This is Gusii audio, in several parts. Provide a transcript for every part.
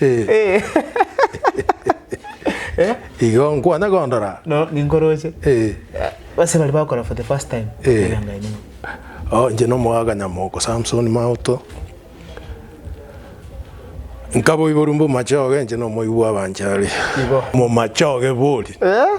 Eh. Eh. Eh, Igo nkwana kondora. no, ninkoroche. Eh. Base bari bakora for the first time. Eh. Era ngai nimo. Oh, nche nomogaga nyamoko Samson Mauto. Nkaboiboru mbomachoge nche nomoibu bw'abanchari. Igo. Momachoge bori. Eh?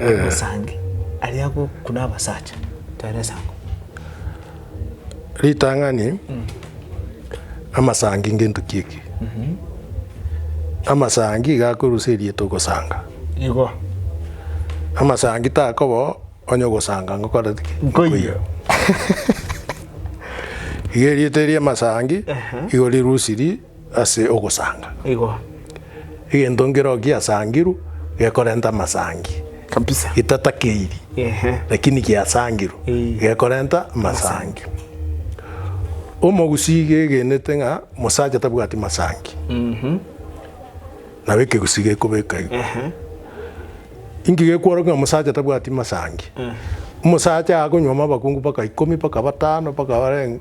Omosangi aria agokuna abasacha tare esango. Ritang'ani, Amasangi ngento ki eke? Amasangi iga akorusia erieta ogosanga. Igo. Amasangi takoba onye ogosanga ngokoreti ki? Nkoiyo. Iga erieta eria amasangi igo rirusiri. ase ogosanga. Igo. Egento nkero giasangirwe gekorenta amasangi. Kabisa. Gitatakeiri. Ehe. Lakini giasangirwe. Eeh. Gekorenta amasangi. Omogusii gegenete ng'a mosacha tabwati masangi. Mhm. Nabo ekegusii gekobeka igo. Ehe. Inki gekworokia ng'a mosacha tabwati masangi? Eeh. Omosacha akonywa amabakungu mpaka ikomi, mpaka batano, mpaka barenge.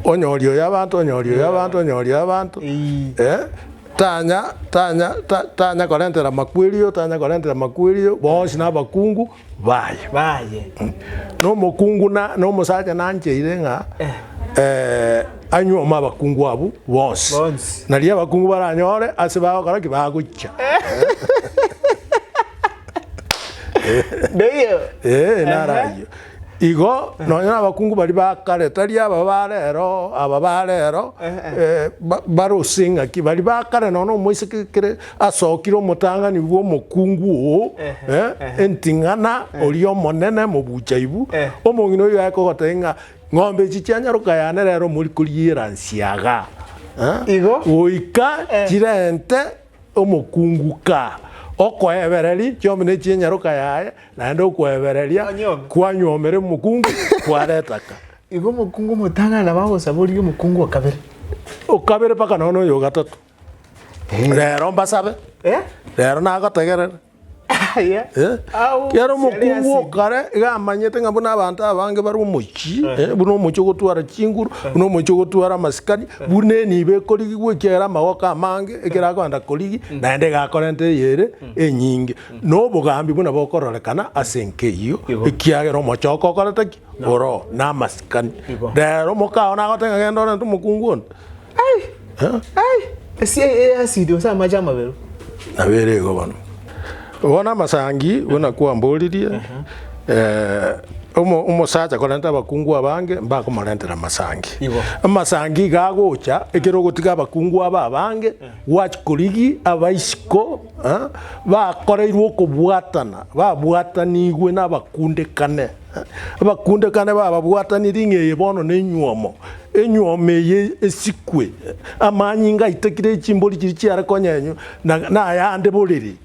Onyoria oyo abanto, onyoria oyo abanto, onyoria oyo abanto, eh, tanya, tanya, ta, tanya korentera makwerio, tanya korentera makwerio, bonsi na abakungu baye. Baye. Nomokungu na, na omosacha nancheire ng'a eh, anywe amo abakungu abwo bonsi. Bonsi. Na riria abakungu baranyore, ase bagokora ki? Bagochia. Ndoiyo. Eh, naro Ehe. ayio. Igo nonya nabakungu baria ba kare, tari aba ba rero, aba ba rero, eh, ba- barose eng'aki, baria ba kare nonya omoiseke kere asokire omotang'ani bw'omokungu oo, eh, enting'ana oria omonene mobuchaibu, omong'ina oyio aye kogotebia ng'a ng'ombe echi chianyaroka yane rero mori koriera nsiaga, eh, Igo? goika chirente Omokungu ka okoebereri chiomi ne chi'enyaroka yaye, naende okwebereria kwanyuomire omokungu kwareta ka. Igo omokungu omotang'ani nabo agosaborigia omokungu o kabere. O kabere mpaka nonya oyo o gatato. Rero mbasabe, rero nagotegerere. Ekiagera omokungu o kare iga amanyete ng'a buna abanto abange bare omochie, buna omochie ogotwara chinguru, buna omochie ogotwara amasikani, buna enibo ekorigigwa ekiagera amagoko amange ekero akogenda korigia naende egakorenta eye ere enyinge. Na obogambi buna bokororekana ase enka eyio, ekiagera omochie okokorete ki? Oro namasikani. Igo. Rero mokao nagoteba ng'a genda orente omokungu onde. Ai! Ai! Esia eye ya asidi gose amache amaberu. Nabo ere igo bono. Bono amasangi buna kwamboririe, eh, omo- omosacha korenta abakungu abange mbakomorentera amasangi. Igo. Amasangi iga agocha ekero ogotiga abakungu aba abange, gwachikorigia abaisiko, eh, bakoreirwe okobwatana, babwatanigwe nabakundekane. Abakundekane bababwatani ring'eye bono nenyuomo, enyuomo eye esikwe, amanyinga aitakire echimbori chiria chiare konyenywa na nayande boriri.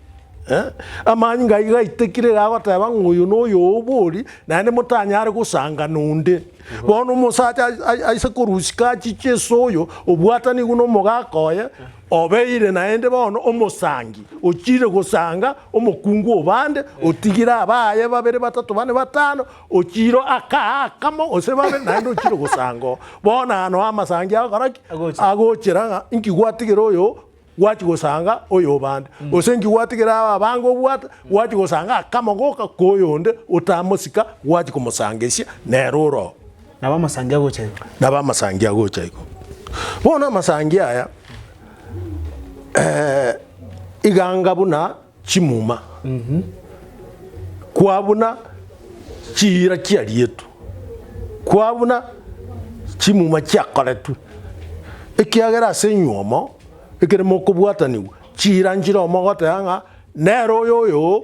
Amanyinga ayio gaitakire gagoteba ng'a oyo noyo obori, naende motanyare gosanga nonde. Bono omosacha aise korusika achiche ase oyo obwatani nigo nomogaka oye. Obeire naende bono omosangi, ochiire gosanga omokungu o bande, otigire abaaye babere, batato, bane, batano, ochiire akaa akamo gose babere, naende ochiire gosanga oo. Bono ano amasangi agokora ki? Agocha. Agochera ng'a inki gwatigera oyo gwachia gosanga oyobande, gose inki gwatigera aba abange obwate, gwachia gosanga akamo goka koyonde otamosika, gwachia komosangereria nere ore oo. Nabo amasangi agocha igo. Nabo amasangi agocha igo. Bono amasangi aya eh, iganga buna chimuma kwa buna chiira chiarietwe kwa buna chimuma chiakoretwe ekiagera ase enywomo ekere mokobwatanigwa chiira nchire omogoteba ng'a nere oyo oyo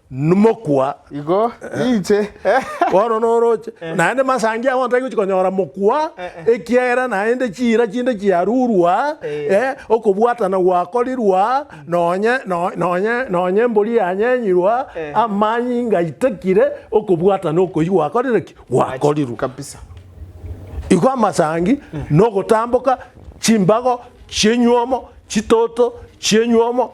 n'mokwa. Igo inche. Bono noroche, naende masangi abo ntari gochi konyora mokwa, ekiagera naende chiira chinde chiarurwa, okobwatana gwakorirwa, nonye, nonye, nonye embori yanyenyirwa, amani ngaitekire, okobwatana okoyia gwakorire ki? Gwakorirwe. Kabisa. Igo amasangi nogotamboka, chimbago chienyuomo, chitoto chienyuomo.